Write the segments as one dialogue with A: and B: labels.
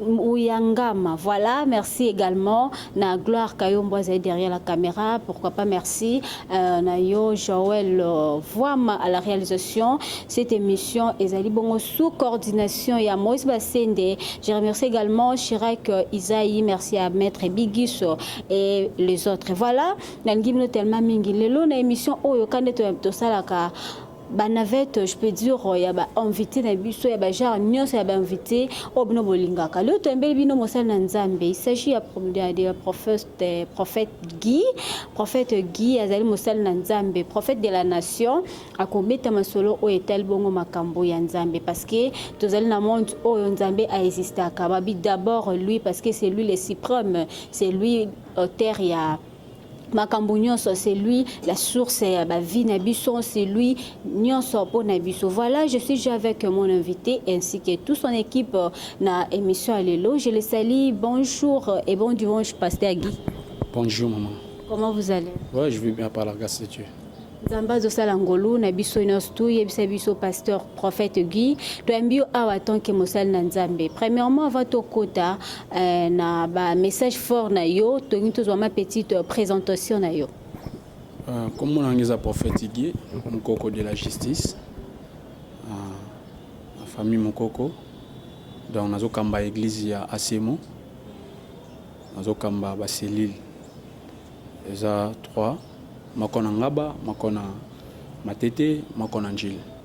A: Uyangama. Voilà, merci également na Gloire Kayombo azali derrière la caméra. Pourquoi pas merci euh, na yo Joël euh, Voama à la réalisation. Cette émission ezali bongo sous coordination ya Moïse Bassende. Je remercie également Chirac euh, Isaïe, merci à Maître Bigiso et les autres. Voilà, na ngimno tellement mingi lelo na émission oyo kande to salaka ba navette je peux dire euh, ya ba invité na biso ya ba genre nyonso ya ba invité oyo bino bolingaka leo toyembeli bino mosali na nzambe il s'agit ya de prophète euh, prophète Guy prophète Guy azali mosali na nzambe prophète de la nation akobeta masolo oyo etali bongo makambo ya nzambe parce que tozali na monde oyo nzambe a existaka babi d'abord lui parce que c'est lui le suprême c'est lui auteur ya makambo nyonso c'est lui la source ya ba vie na biso c'est lui nyonso mpo na biso voilà je suis déjà avec mon invité ainsi que tout son équipe euh, na émission ya lelo je le salue bonjour et bon dimanche pasteur Guy bonjour maman
B: comment vous allez
A: ouais je vais bien par la
B: grâce de Dieu nzambe azosala
A: ngolu na biso nyonso yebisa biso pasteur prophète guy toyambi yo awa tanke mosali na nzambe premièrement avant tokota eh, na bamessage fort na yo tolingi tozwa ma petite euh, présentation na yo euh,
B: kombo nanga eza prophète guy mokoko de la justice euh, na famille mokoko donc nazokamba église ya asemo nazokamba baselile eza 3 Moko na ngaba, moko na matete, moko na ndjili.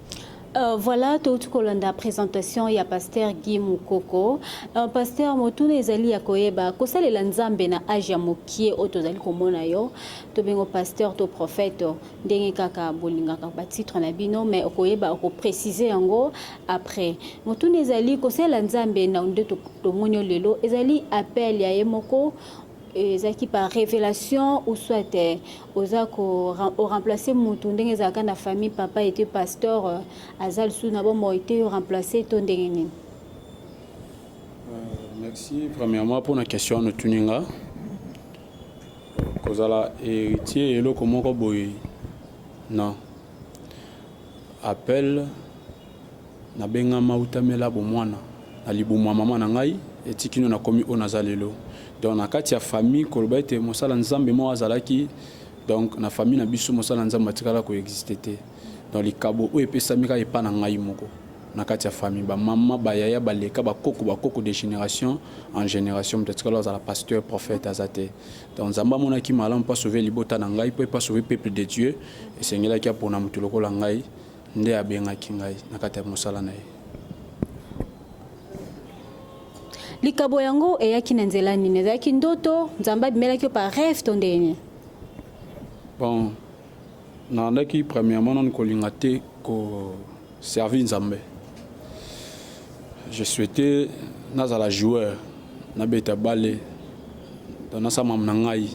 B: Euh, voilà
A: touti kolanda présentation ya pasteur Guy Mukoko. Euh, pasteur motuna ezali ya koyeba kosalela Nzambe na age ya mokie oyo tozali komona yo tobengo pasteur to prophète ndenge kaka bolingaka ba titre na bino mais okoyeba okopréciser yango après. Motuna ezali kosalela Nzambe na nde tomoni lelo ezali appel ya ye moko ezalaki par revelation ou soit eh, oza ko remplacer mutu ndenge ezalaka na famille papa était pasteur eh, aza lisusu na bomoi te yo remplacer to ndenge nini
B: euh, merci premièrement mpona question wana otuni nga kozala héritier eloko moko boye non appel Nabengama uta mela bomwana, na libumu ya mama na ngai, tii kino nakomi oyo naza lelo. Donc na kati ya famille koloba ete mosala nzambe moko azalaki, donc na famille na biso mosala nzambe atikala ko exister te. Donc likabo oyo epesami kaka epa na ngai moko na kati ya famille, ba mama, ba yaya, ba leka, ba koko, ba koko, de generation en generation moto atikala kozala pasteur, prophète aza te. Donc nzambe amonaki malamu po a sauver libota na ngai, po epa sauver peuple de Dieu, esengelaki apona moto lokola ngai. Nde abengaki ngai na kati ya mosala na ye.
A: Likabo yango eyaki na nzela nini? Ezalaki ndoto? Nzambe abimelaki yo par rêve to ndenge nini?
B: Bon, nalandaki premièrement nanu kolinga te ko servir Nzambe. Je souhaitais nazala joueur, nabeta bale, donc nasala makambo na ngai.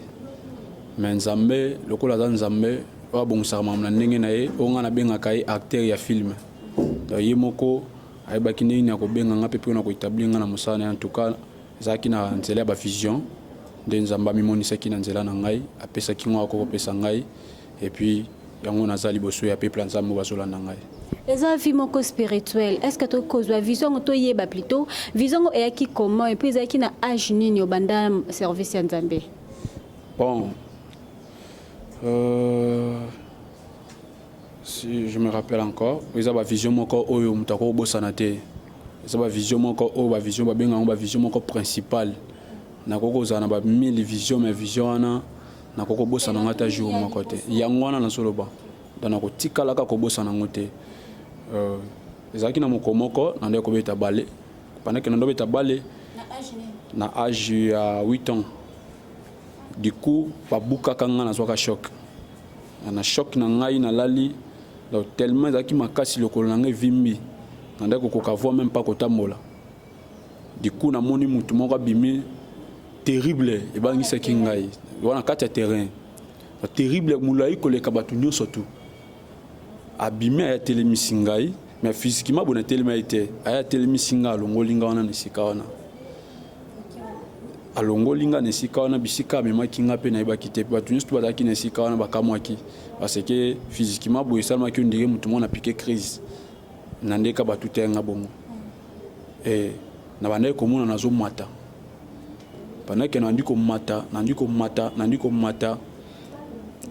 B: Mais Nzambe lokola aza Nzambe oyo abongisaka makambo na ndenge na ye, oyo ngai nabengaka ye acteur ya film. Donc ye moko ayebaki ndenge nini akobenga ngai mpe mpe na koetablir ngai na mosala na ye. En tout cas ezalaki na nzela ya ba vision nde Nzambe amimonisaki na nzela na ngai, apesaki ngai akoki kopesa ngai et puis yango naza liboso ya peuple ya Nzambe oyo bazolanda ngai. eza vie moko
A: spirituel est ce que tokoki kozwa vision yango toyeba plutot vision yango eyaki comment epuis ezalaki na age nini obanda service ya nzambe Bon,
B: euh, si je me rappelle encore, eza ba vision moko oyo moto akoki kobosana te. Eza ba vision moko oyo ba vision babenga yango ba vision moko principale. Nakoki kozala na ba 1000 vision mais vision wana nakoki kobosana yango ata jour moko te. Yango wana nazoloba. Donc nakotikalaka kobosana yango te. Euh, ezalaki na mokolo moko nandaki kobeta bale. Pendant que nandobeta bale na age ya 8 ans Du coup ba bukaka nga na zwaka choc. Na choc na ngai na lali donc tellement ezalaki makasi lokolo na ngai vimbi. Na ndaki kokoka voix même pas kotambola. Du coup na moni mutu moko abimi terrible ebangisaki ngai. Wana kati ya terrain. Terrible mulayi koleka batu nyoso tout. abimi aya telemisi ngai mais physiquement bona telema ye te aya telemisi ngai alongoli ngai wana na esika wana alongoli ngai na esika wana bisika amemaki ngai mpe nayebaki te mpe bato nyonso to bazalaki na esika wana bakamwaki parce que physiquement boye esalemaki yo ndenge motu moko na pike crise na ndeka bato te ngai bongo e, na bandaki komona nazomata pandaki nandi komata nandi komata nandi komata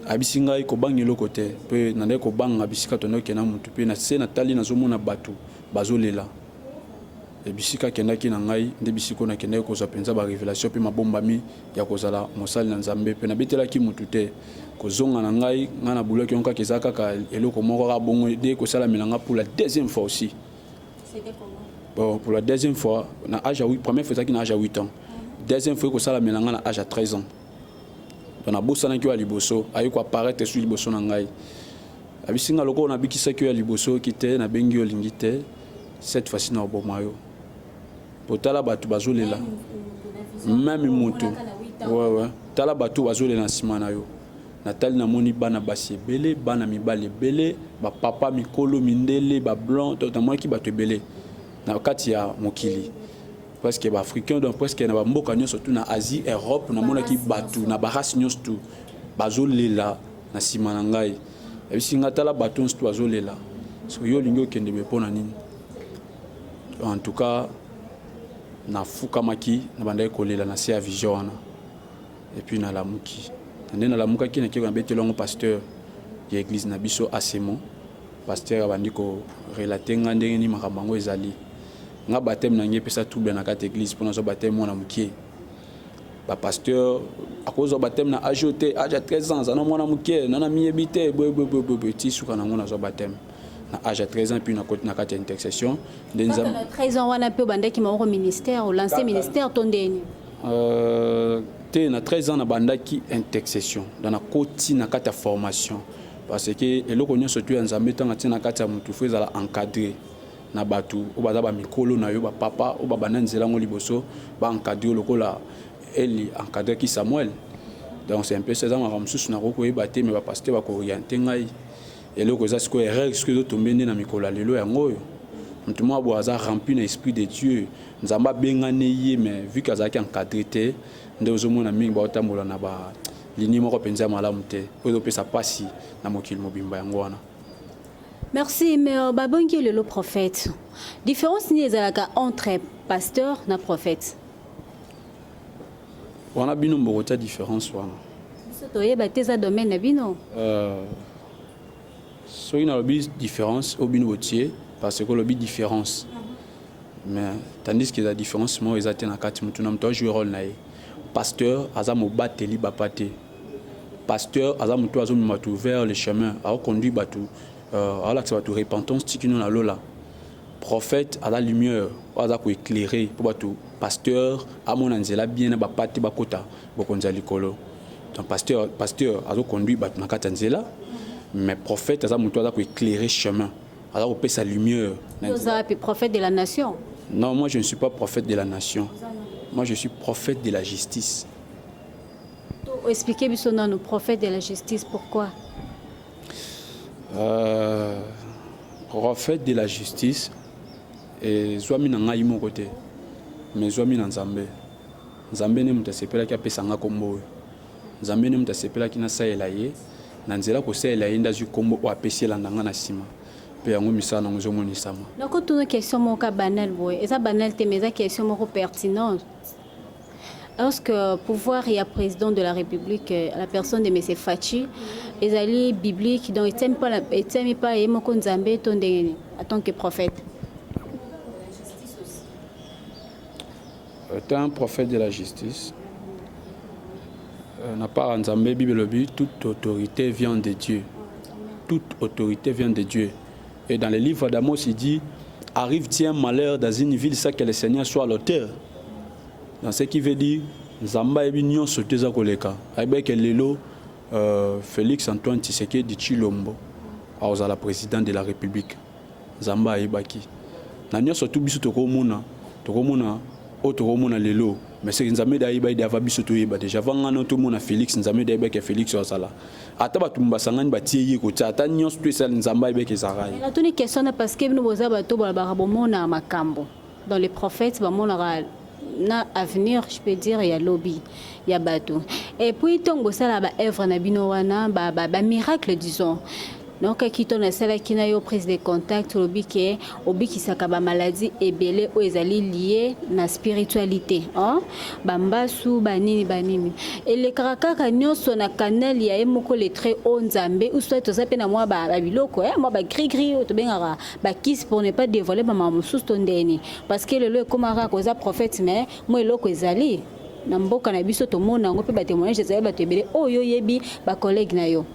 B: ayebisi ngai kobanga eloko te mpe nandaki kobanga bisika tondo okenda motu mpe na se natali nazomona bato bazolela ebisika akendaki na ngai nde bisika oyo nakendaki kozwa mpenza barevelation mpe mabombami ya kozala mosali na nzambe mpe nabetelaki motu te kozonga na ngai ngai na bulaki yango kaka eza kaka eloko moko kaka bongo de kosalamela ngai pour la deuxième fois aussi bon, pour la deuxième fois na age ya première fois ezalaki na age ya 8 ans deuxième fois ekosalamela ngai na age ya 13 ans to nabosanaki yo ya liboso aye ko apparaître esu liboso na ngai abisi nga lokola nabikisaki yo ya liboso oyoki te nabengi yo olingi te cette fois-ci na oboma yo po tala bato bazolela meme motu wewe tala bato bazolela na nsima na yo natali namoni bana basi ebele bana mibali ebele bapapa mikolo mindele bablanc namonaki bato ebele na kati ya mokili presque ba africain donc presque na ba mboka nyonso tout na Asie Europe na mona ki batu na ba race nyonso tout bazo lela na sima na ngai ebisi nga tala batu nyonso tout bazo lela so yo lingi okende be pona nini en tout cas na fukamaki na bandaki kolela na se ya vision wana et puis na lamuki nde na lamukaki na kiko na betelo ngo pasteur ya église na biso asemo pasteur abandi ko relater nga ndenge ni makambo yango ezali Nga bapteme na ngai epesa trouble na kati eglise pona zwa bapteme mwana mukie. Ba pasteur akozwa bapteme na age te, age ya 13 ans azana mwana mukie, nana miyebi te, boye boye boye boye ti suka na ngo na zwa bapteme. na age ya 13 ans puis na koti na kati ya intercession nde nzambe na
A: 13 ans wana pe obandaki moko ministère o lancer ministère to ndeni euh
B: te na 13 ans na bandaki intercession dans na koti na kati ya formation parce que eloko nyonso tu ya nzambe tanga tina kati ya mutu fo ezala encadrer na batu oyo baza ba mikolo nayo ba papa oyo ba banda nzela yango liboso ba encadrer yo lokola Eli a encadraki Samuel donc c'est un peu ça eza makambo mosusu nakoki koyeba te mais ba pasteur ba ko orienter ngai eloko eza sikoyo erreur sikoyo ezo tombe nde na mikolo ya lelo yango oyo moto moko boye aza rempli na esprit de Dieu nzambe abengani ye mais vu que azalaki encadrer te nde ozomona mingi baotambola na ba linie moko mpenza ya malamu te oyo ezopesa mpasi na mokili mobimba yango wana Merci
A: mais babongi yo lelo prophète. Différence nini ezalaka entre pasteur na prophète?
B: Wana bino mbokotya différence wana. Biso toyeba
A: te eza domaine na bino. Euh,
B: soki nalobi différence oyo bino botie parce que olobi différence mais tandis que la différence moko eza te na kati motu na motu ajouer role na ye pasteur aza mobateli bapa te Pasteur aza mutu azo mema tu vers le chemin, azo conduire batu, euh, azo lakisa batu repentance tikino na lola. Prophète aza lumière, aza ko éclairer pour batu pasteur amona nzela bien na bapate bakota bokonzi ya likolo donc pasteur pasteur azo conduire bato na kati ya nzela mais prophète aza moto aza koéclaire chemin aza kopesa lumière oza wapi prophète
A: de la nation non moi je ne suis
B: pas prophète de la nation moi je suis prophète de la justice Expliquer
A: biso nanu prophète de la justice pourquoi? Euh,
B: prophète de la justice ezwami na ngai moko te mais ezwami na Nzambe. Nzambe nde moto asepelaki apesa ngai nkombo oyo. Nzambe nde moto asepelaki nasalela ye na nzela kosalela ye nde azwi nkombo oyo apesi elanda ngai na nsima mpe yango misala nango ezomonisama. Nakotuna question
A: moko banal boye, eza banal te mais eza question moko pertinente Est-ce que pouvoir ya président de la République, euh, la personne de Monsieur Fatshi, ezali biblique, donc etiami pas, la- etiami pas ye moko Nzambe to ndenge nini, en tant que prophète?
B: Étant un prophète de la justice, euh, na part ya Nzambe, Bible elobi toute autorité vient de Dieu. Toute autorité vient de Dieu. Et dans le livre d'Amos, il dit Arrive-t-il un malheur dans une ville sans que le Seigneur soit l'auteur Dans ce qui veut dire, Zamba et Bignon sont deux à Koleka. Avec Lelo, euh, Félix Antoine Tshisekedi Chilombo, à la présidente de la République. Zamba et Baki. Na nyoso tout biso tokomona, tokomona oyo tokomona lelo mais soki nzambe da ayeba ede ava biso toyeba deja ava ngana otomona félix nzambe da ayeba ke félix azala ata bato basangani batie ye kotia ata nyonso to esali nzambe ayebeke ezalaka ye natuni question na parce
A: que bino boza bato bolobaka bomonaka makambo dans les prophètes bamonaka na avenir je peux dire ya lobi ya bato et puis ntongo bosalaka ba œuvre na bino wana ba, ba, ba miracle disons donc kito nasalaki na yo prise de contact olobi ke obikisaka ba maladie ebele oyo ezali lie na spiritualité hein? bambasu banini banini elekaka kaka nyonso na canal ya ye moko letre o nzambe usoi toza mpe na mwa babiloko eh, mwa bagrigri oyo tobengaka bakisi pour ne pas dévoile bamama mosusu to ndeni parce que lelo ekomaka kaka oza prophète mais mwa eloko ezali na mboka na biso tomona yango mpe batemoignage ezali bato ebele oyo oyebi bacollègue na yo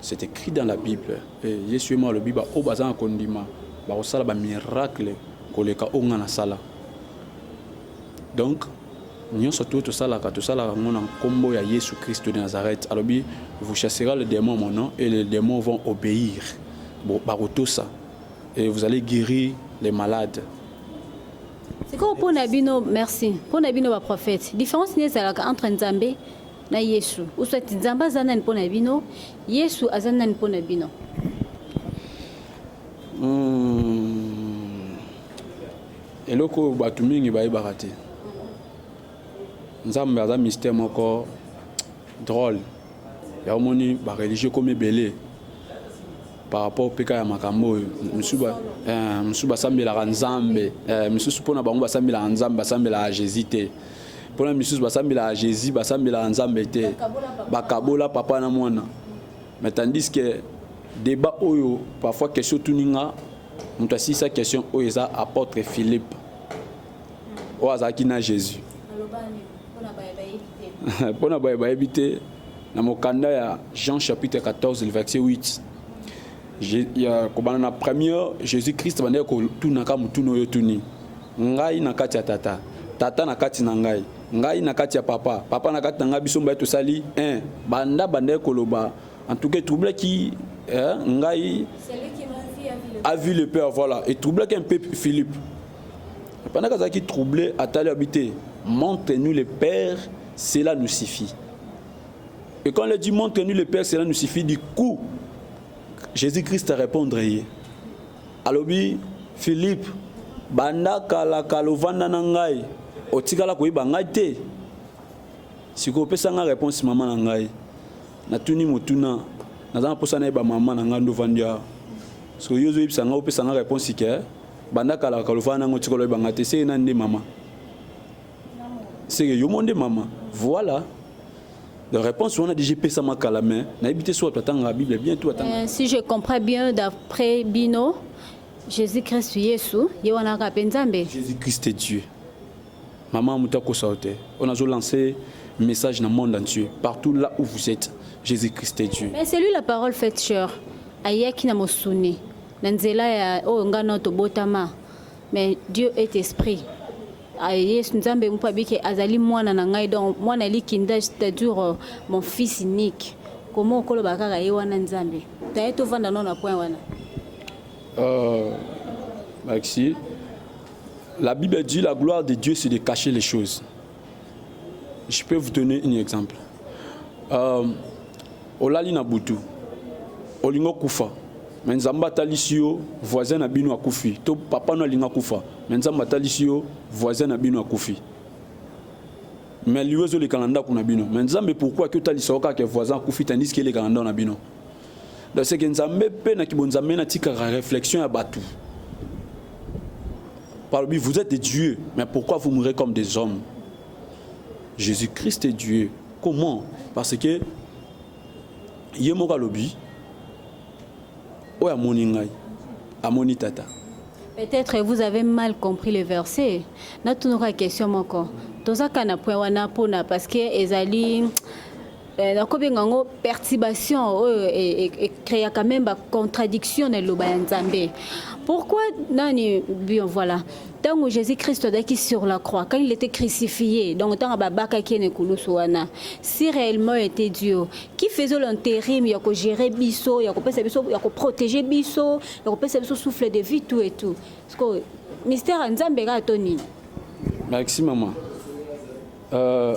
B: C'est écrit dans la Bible. Et Yesu ye moko alobi ba oyo baza na kondima bakosala ba miracle koleka oyo ngai nasala. Donc nyonso to tosalaka tosalaka yango na nkombo ya Yesu Kristo de Nazareth. Alobi vous chassera le démon mon nom et les démons vont obéir. Bon, bakotosa et vous allez guérir les malades.
A: C'est quoi pour Nabino Merci. Pour Nabino ba prophète. Différence n'est pas entre Nzambe na yesu uswati nzambe aza nani mpo na bino yesu aza nani mpo na bino hmm.
B: eloko oyo bato mingi bayebaka te nzambe aza mystère moko drôle ya omoni bareligieux ekomi ebele par rapport mpe kaka ya makambo oyo mosusu eh, basambelaka nzambe eh, mosusu mpo na bango basambelaka nzambe basambelaka jésus te pona misusu basambelaka jesus basambelaka nzambe te bakabola papa na mwana mais tandis que débat oyo parfois question otuni nga moto asilisa question oyo eza apôtre philippe oyo azalaki na jésus mpo na baye bayebi te na mokanda ya jean chapitre 14 verset 8 ya kobanda na première jésus christ bandaki kotunaka motuna oyo otuni ngai na kati ya tata tata na kati na ngai ngai na kati ya papa papa na kati na ngai biso mbaye tosali un banda bandaki koloba en tout cas etroublaki eh, ngai a vu le père voilà etroublaki un peu philippe pendant kazalaki troublé atali abi te montre nous le père cela nous suffit Et quand le dit montre nous le Père, cela nous suffit. Du coup, Jésus-Christ a répondre ye. Alobi Philippe, banda kala kala ovanda na ngai, otikala koyeba ngai te. Siko opesa ngai réponse mama na ngai. Natuni motuna, naza na posa nayeba mama na ngai ndovandi awa. Siko yo ozoyebisa ngai opesa ngai réponse ke banda kala kala ovanda na ngai otikala oyeba ngai te, se nani nde mama? seke yo mo nde mama voilà réponse wana déjà epesamaka kala mais nayebi te so bato atangaka bible bien to atanga euh, si je comprends
A: bien d'après bino jésus christ yesu ye wana kaka mpe nzambe
B: jésus christ est dieu mama moto akosa yo te oyo nazolanse message na monde entier partout là où vous êtes jésus christ est dieu mais celui la parole faite
A: cheur ayaki na mosuni na nzela ya oyo ngai nao tobotama Mais Dieu est esprit. Ah, Yesu Nzambe mpo abike azali mwana na ngai donc mwana likinda c'est-à-dire euh, mon fils unique. Comment okoloba kaka ye wana Nzambe? Taye tovanda no na point wana. Euh,
B: Maxi, la Bible dit la gloire de Dieu c'est de cacher les choses. Je peux vous donner un exemple. Euh, olali na butu olingo kufa me nzambe atalisi yo voisin na bino akufi to papa no alinga kufa me nzambe atalisi yo voisin na bino akufi me liwa ezoleka na ndako na bino me nzambe pourkui ake otalisa yo kaka voisin akufi tandis ke eleka na ndako na bino Donc c'est que Nzambe pe na kibonzambe na tika réflexion ya batu. Parmi vous êtes des dieux, mais pourquoi vous mourrez comme des hommes Jésus-Christ est Dieu. Comment Parce que ye moko alobi oyo amoni ngai amoni tata peut-être
A: vous avez mal compris le verset natunoka question moko tozaka na point wana mpona parce que ezali Eh, nakobenga yango perturbation oyo oh, eh, eh, ecreaka meme bacontradiction na liloba ya nzambe pourquoi nani bien voilà ntango jésus christ azalaki sur la croix quand il était crucifié donc ntango babakaki ye na ekulusu wana si réellement était dieu qui faisait l'intérim ya kogere biso ya kopesa biso ya koprotege biso ya kopesa biso souffle de vie tout et tout sikoyo mystère ya nzambe kaka to nini maxi
B: mama euh...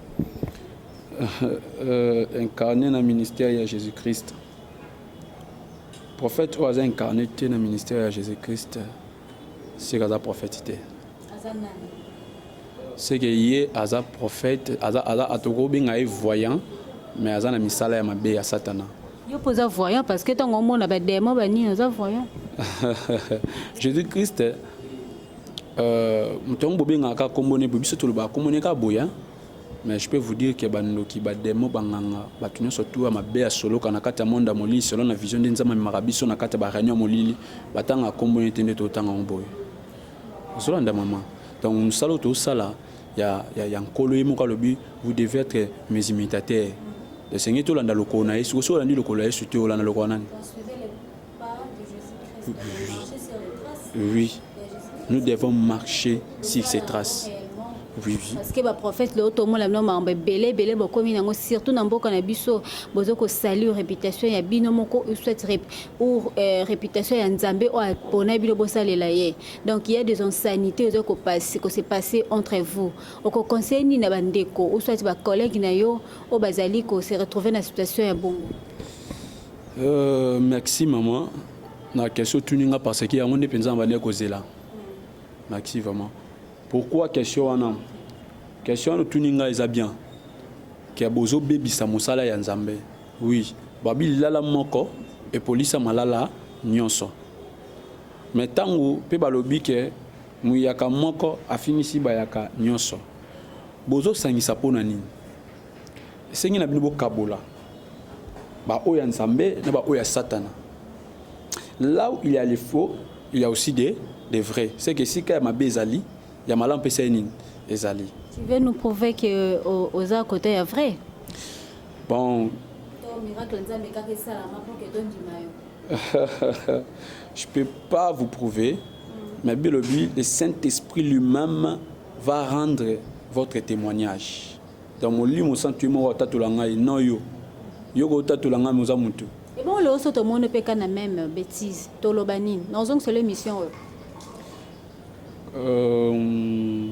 B: euh, incarné na ministère ya jésus christ prophète oyo aza incarné te na ministère ya jésus christ seke aza prophète te seke ye aza prophète aza, aza atokobenga ye voyant mais aza na misala ya mabe ya satana yo mpo oza voyant
A: parce que ntango omona bademo banini oza voyant jésus
B: christ Euh, moto yango bobengaka kaka kombo ne boye biso tolobaka kombo ne kaka boye hein? mais je peux vous dire que bandoki bademo banganga bato nyonso tu ya mabe ya soloka na kati ya monde ya molili selon na vision nde nzambe amemaka biso na kati ya bareunion ya molili batangaka kombo ne te nde totanga yango boye ozolanda mama donc mosala oyo tosala ya, ya, ya nkolo ye moko alobi vous devez être mes imitateurs esengeli tolanda lokolo na yesu osi olandi lokolo ya yesu te olanda lokolo nani Oui. Nous devons marcher sur ces traces. Oui, oui. Parce que ba prophètes le auto
A: la nom mambe belé belé bokomi nango surtout na mboka na biso bozo ko salir réputation ya bino moko ou soit rep, ou euh, réputation ya Nzambe o pona bino bosalela ye. Donc il y a des insanités ozo ko passer ko se passer entre vous. Oko conseil ni na bandeko ou soit ba collègues na yo o bazali ko se retrouver na situation ya bongo. Euh,
B: merci maman na question otuni nga parce que yango nde mpenza na bandaki kozela merci vraiment pourquoi question wana question wana otuni nga eza bien ke bozobebisa mosala ya nzambe oui babi lilala moko epolisa malala nyonso me ntango mpe balobi ke muyaka moko afingisi bayaka nyonso bozosangisa mpo na nini Esengi na bino bokabola ba oyo ya Nzambe na ba oyo ya Satana. Là où il y a les faux, il y a aussi des des vrais. C'est que sika ya mabe ezali, ya malamu pesa nini ezali. Tu veux nous prouver
A: que o- oza à côté ya vrai Bon,
B: miracle nzambe kaka esalama mpo ke tondima yo je peux pas vous prouver, mais bilobi le Saint-Esprit lui-même va rendre votre témoignage. Donc molimo santu ye moko atatola ngai non yo yo kotatola ngai moza motu ebongo lelo so
A: tomoni mpe ka na meme betise toloba nini na ozongisela émission oyo euh,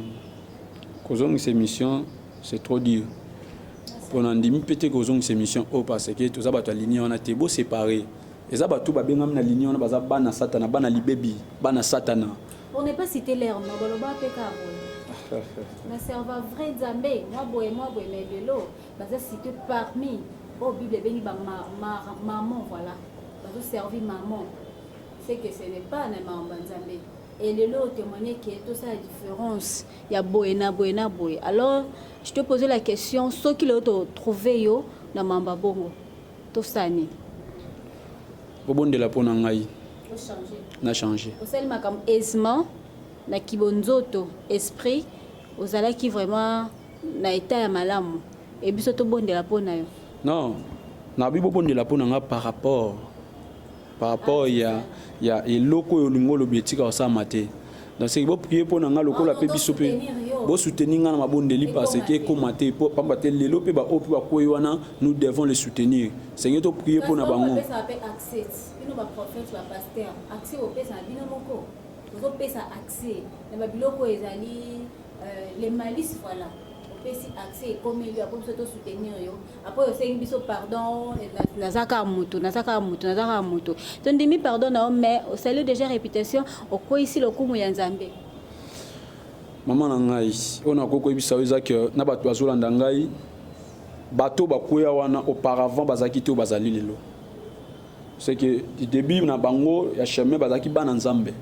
B: kozongisa émission c'est trop dur mpo na ndimi mpe te kozongisa émission oyo parce que toza bato ya linie wana te boséparé eza bato babengami na linie wana baza bana satana bana libebi bana satana Pour ne pas citer
A: leur nom, baloba pe ka boye. Na serva vrai Nzambe, mwa boye mwa boye mais lelo baza cité parmi oh Bible ebengi ba ma, ma, maman voilà. Bazo servi maman. C'est que ce n'est pas na maman Nzambe. Et lelo témoigner que tout ça la différence ya boye na boye na boye. Alors, je te posais la question, ce qui l'a trouvé yo na mamba bongo. Tosani.
B: Obondela pona ngai. na change osali makambo
A: aisement na kibonzoto esprit ozalaki vraiment na etat ya malamu e biso tobondela mpo na yo non
B: nabi bobondela mpo na nga par rapport par rapport ah, ya, ya eloko oyo olingi olobi etika osalama te donc seki boprie mpo na nga lokola mpe ah, biso mpe bosoutenir nga na mabondeli parce que ekoma te mpo pamba te lelo mpe baoyo mpe bakwei wana nous devons les soutenir senge toprie mpo na bango
A: Bino ba prophète ba pasteur accès bopesa na bino moko bozopesa accès na babiloko oyo ezali euh, le malice voilà opesi accès ekomeli yo apo biso tosoutenir yo apo osengi biso pardon naza kaka moto naza kaka moto naza kaka moto tondimi pardon na yo mais osali déjà réputation okweisi lokumu ya nzambe
B: mama na ngai oyo nakoki koyebisa yo eza ke na bato bazolanda ngai bato bakweya wana auparavant bazalaki te oyo bazali lelo c'est que du début na bango ya chemin bazalaki bana nzambe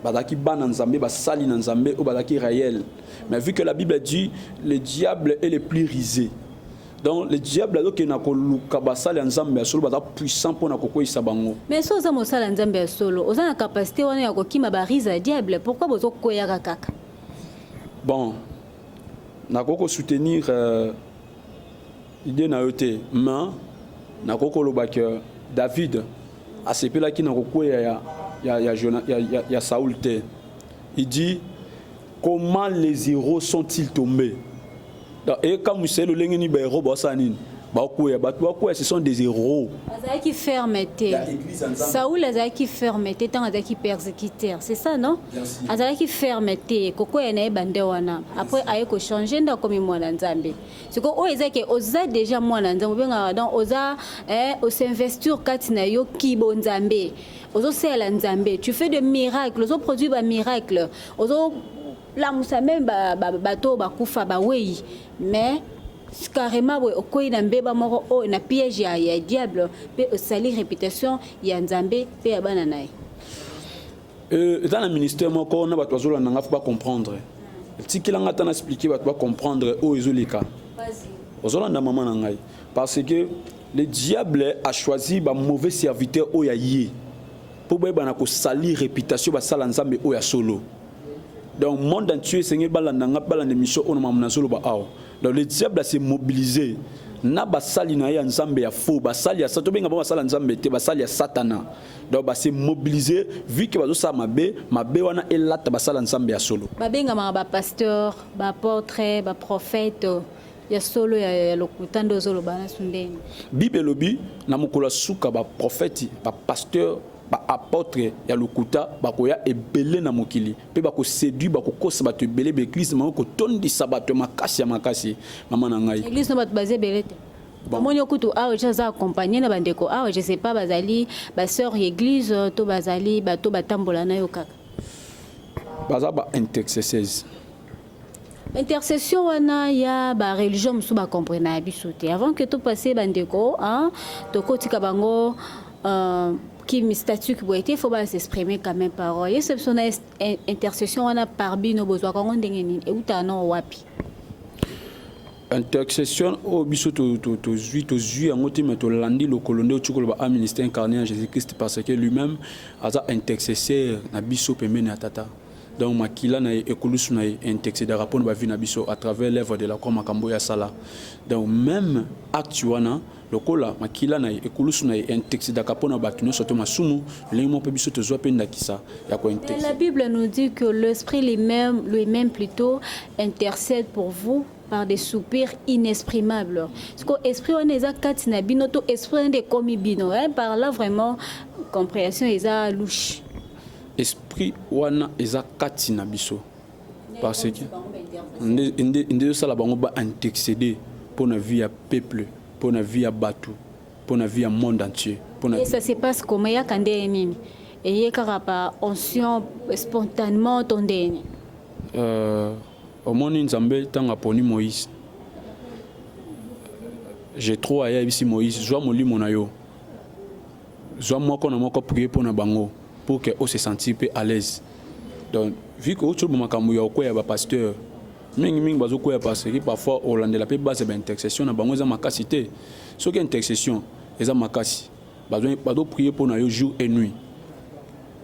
B: bazalaki bana nzambe basali na nzambe oyo bazalaki réel mais vu que la bible dit le diable est le plus risé donc le diable azokende na koluka basali ya nzambe ya solo baza puissant mpo na kokweisa bango mais so oza mosali ya
A: nzambe ya solo oza na kapasité wana ya kokima barise ya diable pourquoi bozokweyaka kaka
B: bon nakoki kosoutenir euh, Idee na yo te mais nakoki koloba que David asepelaki na kokweya ya, ya, ya, ya, ya, ya Saul te. Il dit comment les héros sont-ils tombés? Et quand Moussel Olengeni ba héros basala nini? bakweya bato bakweya ce sont des héros azalaki ferme
A: te saul azalaki ferme te ntango azalaki persécuteur c'est ça non azalaki ferme te kokweya na ye bande wana après aye kochange nde akomi mwana nzambe siko oyo eza ke oza deja mwana nzambe obengaka donc oza eh, osinvestir kati na yo kibo nzambe ozosalela nzambe tu fais de miracle ozoproduire bamiracle ozolamusa meme bato oyo bakufa bawei mais carrément boye okwei na mbeba moko oyo oh, na piège ya, ya diable mpe osali réputation ya nzambe mpe ya bana na ye
B: Euh, eza na ministère moko na bato bazolanda na nga fo bacomprendre tikela nga ata na explike bato bacomprendre oyo ezoleka ozolanda mama na ngai parce que le diable a choisi bamauvais serviteur oyo ya ye mpo bayebana kosalir réputation basala nzambe oyo ya solo donc monde entier esengeli balanda nga balanda émission oyo na mamu nazoloba awa donc le diable ase mobilise na basali na ye ya nzambe ya faux basali ya sa tobenga bango basala nzambe te basali ya satana donc ba se mobiliser vu que bazosala mabe mabe wana elata basala nzambe ya solo babengamaka bapasteur
A: baapôtre baprophète ya solo ya, ya lokuta nde ozoloba naso ndenge bible elobi
B: na mokolo ya suka baprofeti bapasteur baapotre ya lokuta bakoya ebele na mokili mpe bakosedui bakokosa bato ebele baeglize bango kotondisa bato ya makasi ya makasi mama na ngai eglize no bato baza ebele
A: te omoni yo kutu awa je aza accompagne na bandeko awa je sais pas bazali basœur ya église to bazali bato batambola na yo kaka
B: baza ba intercesseurs
A: intercession wana ya ba religion mosusu bacomprena ya biso te avant que topasse bandeko tokotika bango euh, kimi statut ki boye te fo ba s'exprimer quand même parole yesu biso na intercession wana par bino bozwaka yango ndenge nini eutaka na wapi
B: intercession oyo biso tozwi tozwi yango te me tolandi lokolo nde otyokolo ba aministre incarné ya jésus christ parce que lui-même aza intercesseur na biso pembeni ya tata donc makila na ye ekulusu na ye intercedaka mpo na bavi na biso à travers l'œuvre de la croix makambo oyo asala donc même acte wana Lokola makila na ye, ekulusu na ye, enteksidaka mpo na bato nyonso to masumu, lolenge moko mpe biso tozua mpe ndakisa ya koenteksida. Mais la Bible nous dit que
A: l'Esprit lui-meme, lui-meme plutot, intercède pour vous par des soupirs inexprimables. Ce que esprit wana eza kati na bino to esprit wana ekomi bino. Hein? Par là vraiment comprehension eza louche. Esprit
B: wana eza kati na biso. parce que nde ezosala bango ba antexede mpo na vie ya peuple mpo na vie ya bato mpo na vie ya monde entier mpona ça se passe
A: comme eyaka ndenge nini eye kaka pa onction spontanement to ndenge nini euh,
B: omoni nzambe ntango aponi moïse jetro ayebisi moïse zwa molimo na yo zwa moko na moko prier mpo na bango pour que ose sentir mpe à l'aise donc vu que otyobo makambo ya okweya bapasteur mingi mingi bazokweya parce que parfois olandela mpe base ya baintercession na bango eza makasi te soki intercession eza makasi bazoprier mpo na yo jour et nuit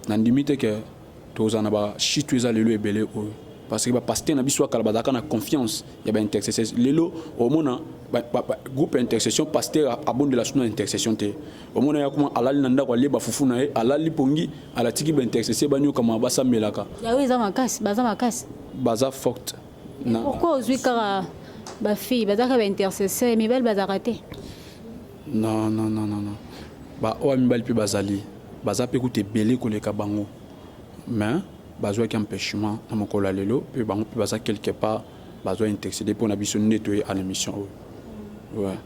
B: nandimi te ke Toza na ba shitu eza lelo ebele oyo parce que ba pasteur na biso akala bazalaka na confiance ya ba intercesseurs lelo omona ba, ba, ba, groupe ya intercession pasteur abondela suna intercession te omona ya kuma alali na ndako alie bafufu na ye alali pongi alatiki ba intercessé banyoka ma basambelaka yawe eza makasi
A: baza makasi baza
B: forte pourquoi
A: ozwi kaka ba fille bazalaka ba intercesseur mibali bazalaka te Non
B: non non non non ba oa mibali pe bazali baza pe kutu ebele koleka bango mais bazuaki empechement na mokolo ya lelo pe bango pe baza quelque part bazua intexide pona biso nde toye a l'emission oyo ouais.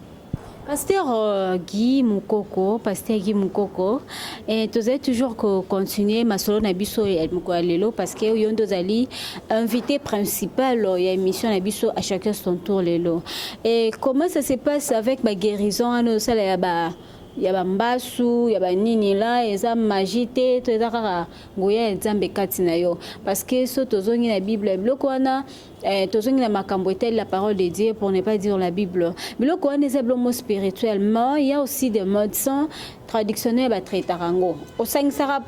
B: Pasteur
A: euh, Guy Mukoko, Pasteur Guy Mukoko, Et tozali toujours ko continuer masolo na biso ya mokolo ya lelo parce que yo nde ozali invité principal ya émission na biso à chacun son tour lelo. Et comment ça se passe avec ba guérison wana osala ya ba ya bambasu ya banini la eza magie te to eza kaka nguya ya nzambe kati na yo parce que so tozongi na bible biloko wana eh, tozongi na makambo etali la parole de dieu pour ne pas dire la bible biloko wana eza bilomo spirituel ma ya aussi de mode sans traditionnel batraitaka yango osangisaka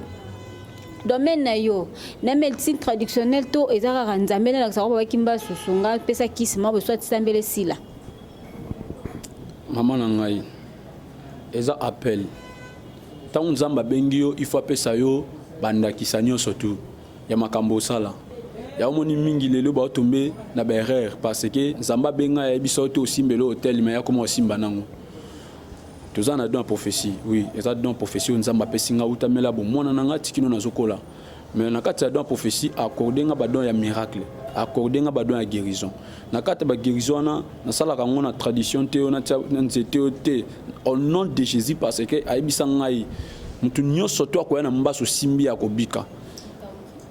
A: domaine na yo na médecine traditionnelle to eza kaka nzambe nalakisa ko babaki mba susunga pesa kisi mwa boswa tisambele sila
B: mama na ngai eza appel ntango nzambe abengi yo ifo apesa yo bandakisa nyonso tu ya makambo osala ya omoni mingi lelo ba tombe na ba erreur parce que nzamba benga ya biso oto osimbelo hotel mais ya koma osimba nango toza na don prophétie oui eza don prophétie oyo nzambe apesi nga utamela bomwana na nga tikino nazokola mais na kati ya don prophétie accorde nga badon ya miracle accorde nga badon ya guérison na kati ya baguérison wana nasalaka yango na tradition te oyo natya na nzete oyo te au nom de jésus parce que ayebisa ngai moto nyonso to akoya na mbasi osimbi akobika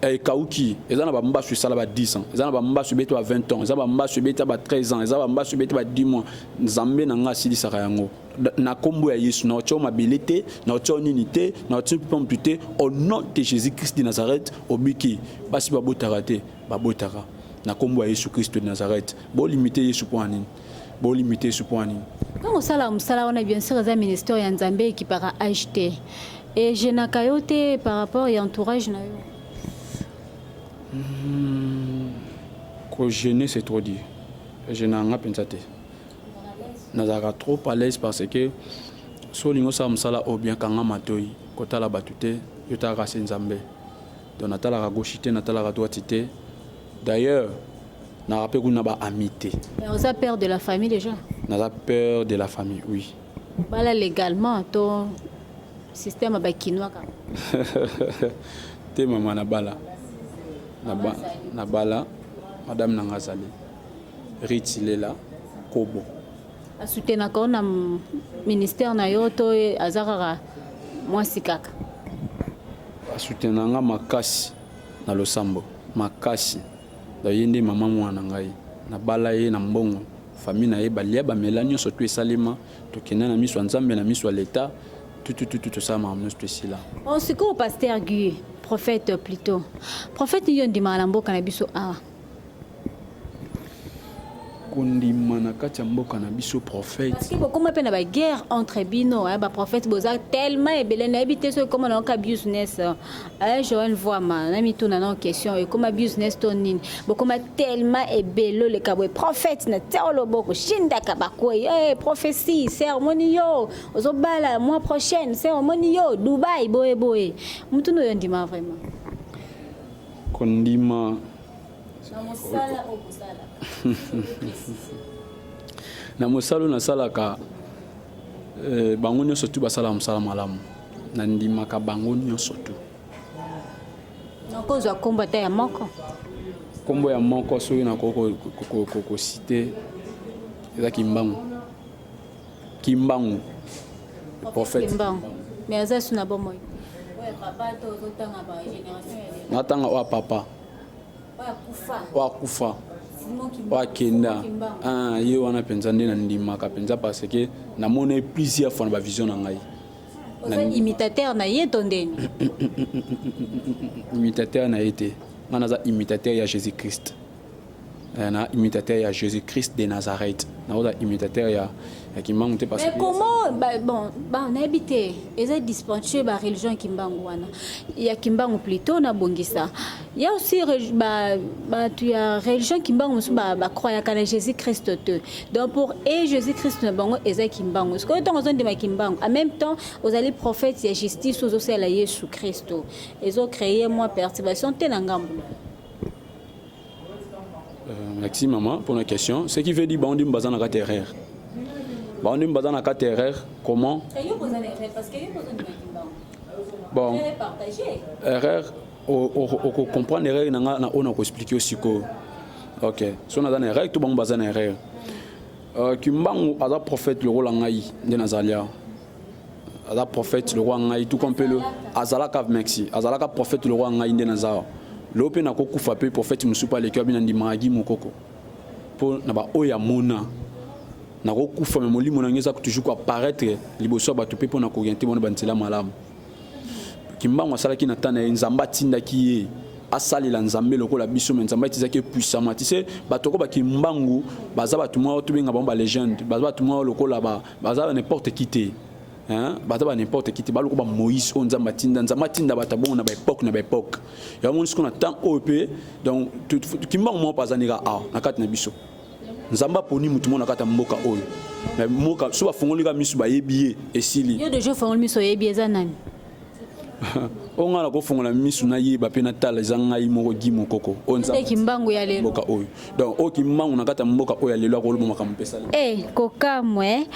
B: eh, ekauki eza na bambasu esala ba 10 ans eza na bambasu ebeti ba 20 ans eza bambasu ebeti ba 13 ans eza bambasu ebeti ba 10 mois nzambe na ngai asilisaka yango na kombo ya yesu na otio mabele te na otio nini te na otio mpomtu te au nom de jésus christ de nazareth obiki basi babotaka te babotaka na kombo ya yesu christ de nazareth bolimite yesu mpo na nini Bo limite Yesu mpo na nini? Ntango osalaka mosala
A: wana, bien sûr eza ministère ya Nzambe ekipaka age te. Ejenaka yo te par rapport ya entourage na yo? Hmm,
B: ko jeûner c'est trop dur. Ejenaka nga mpenza te. Nazalaka trop à l'aise parce que so olingi osala mosala oyo bien kanga matoi kotala bato te yo talaka se Nzambe. Donc na talaka gauche te na talaka droite te. D'ailleurs na rappelle kuna ba amis te. Mais oza père de la
A: famille déjà? Naza père
B: de la famille, oui. Bala légalement
A: to système ya ba kinois kaka.
B: te mama na bala. Na ba na bala madame na nga azali Ritilela Kobo. A
A: soutenaka yo na ministère na yo to aza kaka mwasi kaka?
B: A soutenaka nga makasi na losambo makasi. Donc ye nde mama mwana ngai. Nabala ye na mbongo. Famille na ye balia bamela nyonso tout esalema. Tokenda na miso ya Nzambe na miso ya l'etat tout tout tout tosala makambo nyonso tout esila. Bon sikoyo pasteur
A: Guy prophète plutôt prophète nini yo ondimaka na mboka na biso awa?
B: kondima na kati ya mboka na biso prophète parce que bokoma mpe na
A: baguerre entre bino hein, baprophète boza tellement ebele nayebi te soki ekoma na yoka business hein, eh, joel voama na mituna na question ekoma business to nini bokoma tellement ebele oleka boye prophète na tia oloboko shindaka bakwei hey, eh, prophétie ceremoni yo ozobala mois prochaine ceremoni yo dubai boye boye motuna oyo ndima vraiment Kondima.
B: Na mosala oyo bosalaka. na mosala oyo nasalaka eh, bango nyonso tu basalaka mosala malamu nandimaka bango nyonso tu
A: nakozwa nkombo ata ya moko nkombo ya
B: moko soki nakoki kosite eza kimbangu Kimbangu. Le prophète. Kimbangu. Mais
A: aza sous na bomoi. Ouais, papa to zotanga ba génération ya lelo. Natanga wa papa.
B: Wa kufa. Wa kufa. wakenda ah, ye wana mpenza nde nandimaka mpenza parce que namoni plusieurs fois na bavision na ngai
A: imitateur na ye to ndeni
B: imitateur na ye te ngai naza imitateur ya jésus christ Eh, na imitateur ya jésus christ de nazareth naoza imitateur ya, ya kimbangu te parce que comment ba, bon
A: ba nayebi te eza dispentueux ba religion ya kimbangu wana ya kimbangu plutôt nabongisa ya aussi ba bato ya religion kimbangu mosusu bacroyaka na jésus christ te donc pour e jésus christ na bango eza kimbangu sikoyo ntango ozondima kimbangu en même temps ozali prophète ya justice ozosala yesu christo ezo créer mwa perturbation te na ngambo
B: Euh, merci maman pour la question. Ce qui veut dire bandi mbaza na kati erreur. Bandi mbaza na kati erreur comment? Bon. Erreur au comprendre erreur na nga na ona ko expliquer siko. OK. So na na erreur tout bango baza na erreur. Euh, Kimbangu aza prophète le rôle ngai nde nazalia. aza prophète lokola ngai tout comme pelo azalaka merci azalaka prophète lokola ngai nde naza awa lelo mpe nakokufa mpe prophète mosusu mpe aleki wabi na ndimaka gi mokoko mpo na baoyo ya mona nakokufa me molimo na ngai eza toujours koapparaître liboso ya bato mpe mpo na kooriente bona banzela malamu kimbangu asalaki na ntango na ye nzambe atindaki ye asalela nzambe lokola biso me nzambe atizaki epuisama ti se bato oko bakimbangu baza bato mwa tobenga bango balegende baza bato mwa lokola ba, ba baza ba n'importe qui te hein baza ba n'importe qui te baloko ba Moïse oyo Nzambe atinda Nzambe atinda bato bongo na ba époque na ba époque yango moni sikoyo na temps oyo mpe donc kimbangu moko mpe azandika awa na kati na biso Nzambe aponi motu moko na kati ya mboka oyo mais mboka so bafongoli kaka miso bayebi ye esili yo deja ofongoli miso
A: oyebi eza nani
B: oyo ngai nakofongola misu nayeba mpe natala eza ngai moko gi mokoko mboka
A: oyo donc oyo
B: kimbangu na kati ya mboka oyo ya lelo akoloba makambo mpesali e eh, kokamwe
A: eh.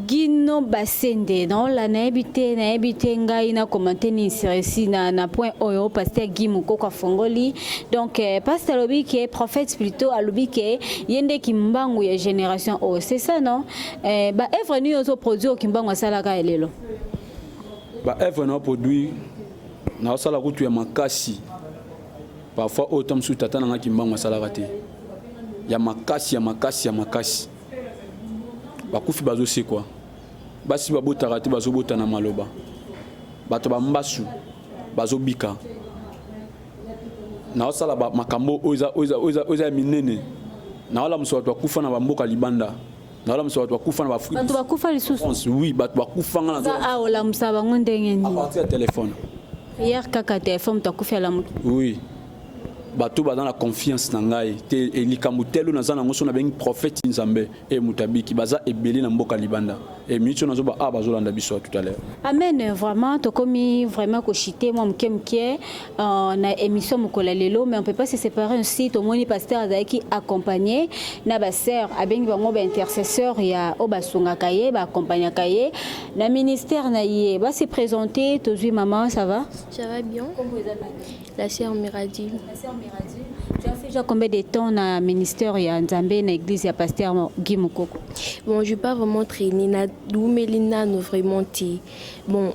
A: gino basende naola nayebi te nayebi te ngai na komante nini seresi na, na point oyo paster gi mokoko afongoli donc eh, paster alobi ke prophète plutôt alobi ke ye nde kimbangu ya génération oyo c'est ça non eh, baevre nini ozoproduire kimbangu asalaka ya lelo
B: ba œuvre na produit na osala kutu ya makasi parfois oyo temps mosusu tata na nga kimbangu asalaka te ya makasi ya makasi ya makasi bakufi bazosekwa basi babotaka te bazobota na maloba bato bambasu bazobika naosala makambo oyo eza ya minene naolamusa bato bakufa na bamboka libanda nalamusa bato bakufa na baafrika bato bakufa lisusu oui
A: bato bakufa nga
B: naza awa olamusa bango
A: ndenge nini apartir ya telefone
B: prière kaka
A: telefone moto akufi alamuki oui
B: bato baza na confiance na ngai te e, likambo telo naza nango so nabengi prophète nzambe e moto abiki baza ebele na mboka libanda e miniti oyo nazoba a ah, bazolanda biso tout à l'heure amen vraiment
A: tokomi vraiment koshite mwa moke moke Euh, na émission mokolo ya lelo mais on peut pas se séparer ainsi tomoni pasteur azalaki accompagné na basœur abengi bango baintercesseur ya oyo basungaka ye baaccompagnaka ye na ministère na ye basi présente tozwi maman ça va ça va bien la sœur
C: miradi la sœur miradi tu as fait
A: déjà combien de temps na ministère ya nzambe na église ya pasteur guy mokoko bon je pas
C: vraiment traîné na doumeli nano vraiment te bon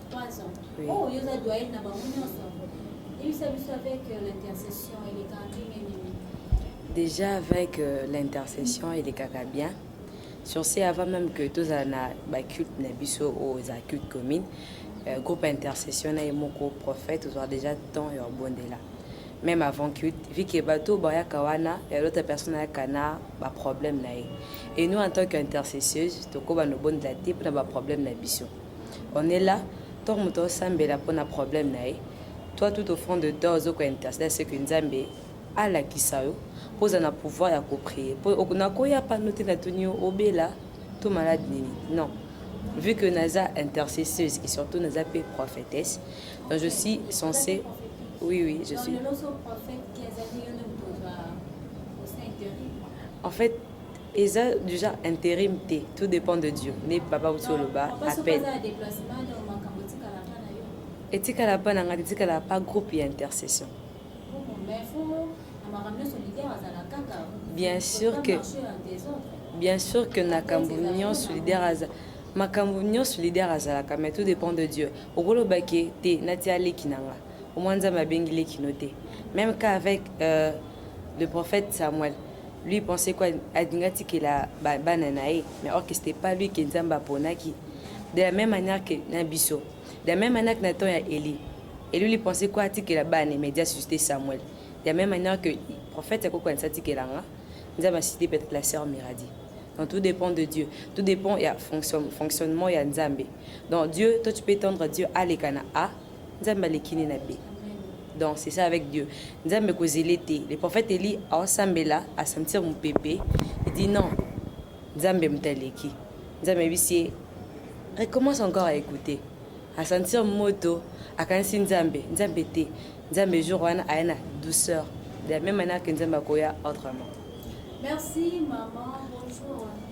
A: Oh, yoza doyenne na bango
D: nyonso.
A: Yebisa biso avec euh, l'intercession elekaka ndenge nini? Déjà
D: avec euh, l'intercession elekaka bien. Sur ce, avant même que tozala na ba culte na biso oyo eza culte commune, euh, groupe intercession na ye moko prophète ozwa déjà temps ya obondela. Même avant culte, vu que bato bayaka wana, ya l'autre personne ayaka na ba problème na ye. Et nous en tant qu'intercesseuse, tokoba nobondela te mpo na ba problème na biso. on est là tango moto azosambela mpo na problème na ye toi tout au fond de toi ozo ko interceder à ce que Nzambe alakisa yo mpo ozala na pouvoir ya ko prier mpo nakoya pano te natuni yo obela to malade nini non vu que naza intercesseuse et surtout naza mpe prophétesse donc je suis censée oui oui je suis en fait Eza dejà interim te, tout depend de Dieu. Nde papa auti oloba à peine. Etikala pa na nga, etikala pa groupe ya intercession. Bien sûr que bien sûr que nakambo nyonso leader aza makambo nyonso leader azalaka mais tout dépend de dieu okolobaki te natia leki na nga omwa nzambe abengi leki no te même cas avec euh, le prophète samuel Lui il pensait quoi alingi atikela bana na ye mais or que c'était pas lui que Nzambe aponaki de la même manière que na biso de la même manière que na temps ya Eli Eli lui pensait quoi atikela bana media suscité Samuel de la même manière que prophète akoko anisa atikela nga Nzambe asite peut-être la sœur Miradi donc tout dépend de Dieu tout dépend ya fonction, fonctionnement ya Nzambe donc Dieu toi tu peux tendre Dieu aleka na a nzambe aleki ne na be donc c'est ça avec dieu nzambe kozele te le prophète eli aosambela asentir mopepe dit non nzambe moto aleki nzambe ayebisi ye recommence encore à écouter asentir moto akanisi nzambe nzambe te nzambe jour wana aya na douceur de la même manière que nzambe akoya autrement merci
A: maman bonjour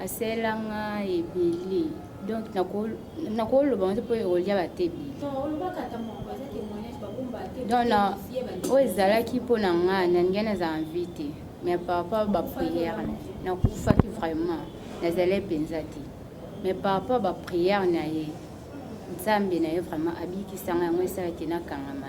E: asela nga ebele donc nakoloba nte mpo ekolia batebi donc oyo ezalaki mpo na nga nalingi naza envie te mais par rapport baprière nakufaki vraiment nazalai mpenza te mais par rapport baprière na ye nzambe na ye vraiment abikisanga yango esalaki nakangama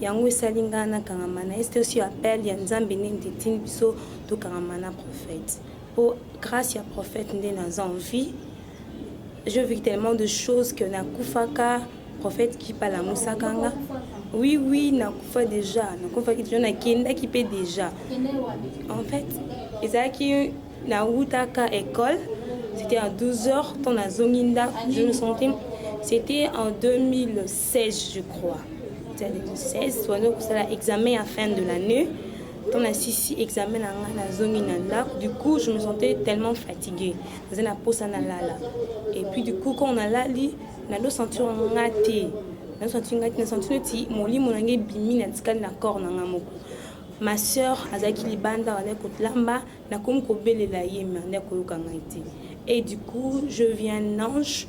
F: Yango esali nga na kangama na este osi appel ya nzambe nde ndetini biso to kangama na prophète po grâce ya prophète nde na za en vie je vis tellement de choses que na kufaka prophète qui pala musaka nga oui oui na kufa déjà na kufa ki déjà na kenda ki pe déjà en fait ezalaki Na wutaka ecole c'etait en 12 heures quand na zongi ndaku je me sentais c'était en 2016 je crois c'était en 2016 tozo kosala examen ya fin de l'année quand na sisi examen na nga na zongi na ndaku du coup je me sentais tellement fatiguée naza na posa na lala et puis du coup quand na lali na do sentir nga te na sentir nga te na sentir neti molimo na nga ebimi na tikali na corps na nga moko ma sœur azalaki libanda azalaki kolamba Nakomi kobelela ye mais ande akoyoka ngai te. Et du coup, je vis un ange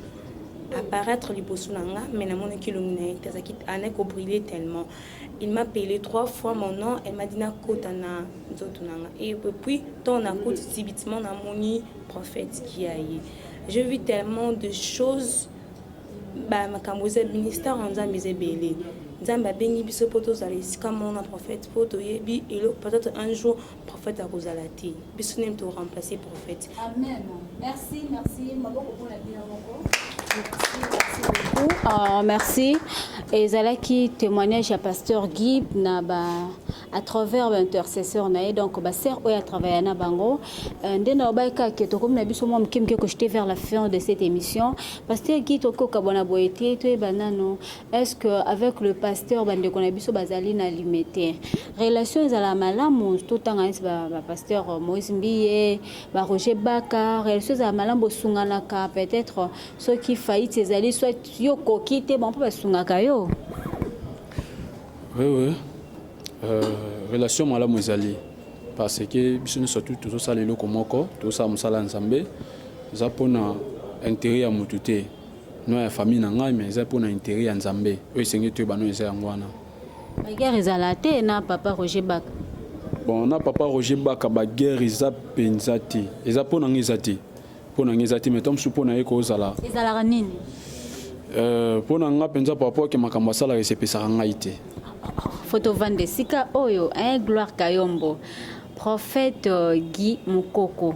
F: apparaître liboso na nga mais namonaki elongi na ye te azalaki ande kobrille tellement il m'a appelé trois fois mon nom elle m'a dit nakota na nzoto na nga et puis ntango nakoti subitement namoni prophète kia ye je vis tellement de choses bamakambo eza ministère ya nzambe eza ebele nzambe abengi biso mpo tozala esika moko na prophète mpo toyebi eloko peut-être un jour prophète akozala te biso nini to remplacer prophète
A: amen merci merci maboko pona bino moko Uh, merci ezalaki témoignage ya pasteur guy na ba à travers baintercesseur na ye donc basere oyo atravailla na bango euh, nde nalobaki kaka ke tokomi na biso mwa moke moke kochute vers la fin de cette émission pasteur guy tokoki kokabwana boye te toyeba nano Est ce que avec le pasteur ba ndeko na biso bazali na limete relation ezala malamu to tanga neti ba, ba pasteur Moïse Mbiye ba Roger Baka relation ezala malamu bosunganaka peut-être soki faillite ezali soit yo koki te bon ba sungaka yo Oui
B: oui euh, relation malamu ezali parce que biso nyonso tu tozosala eloko moko tozosala mosala ya Nzambe eza mpona intérêt ya motu te Nom ya famille na ngai mais eza mpo na interet ya Nzambe oyo esengeli toyeba no eza yango wana. Ba guerre
A: ezala te na papa Roger Baka. Bon na
B: papa Roger Baka ba guerre eza penza te eza mpo na ngai eza te mpo na ngai eza te mais tant mosusu mpo na ye kozala Ezalaka nini?
A: Euh,
B: mpo na ngai penza par rapport ke makambo asalaka esepesaka ngai te. Photo
A: vanda esika oyo eh, Gloire Kayombo prophète euh, Guy Mukoko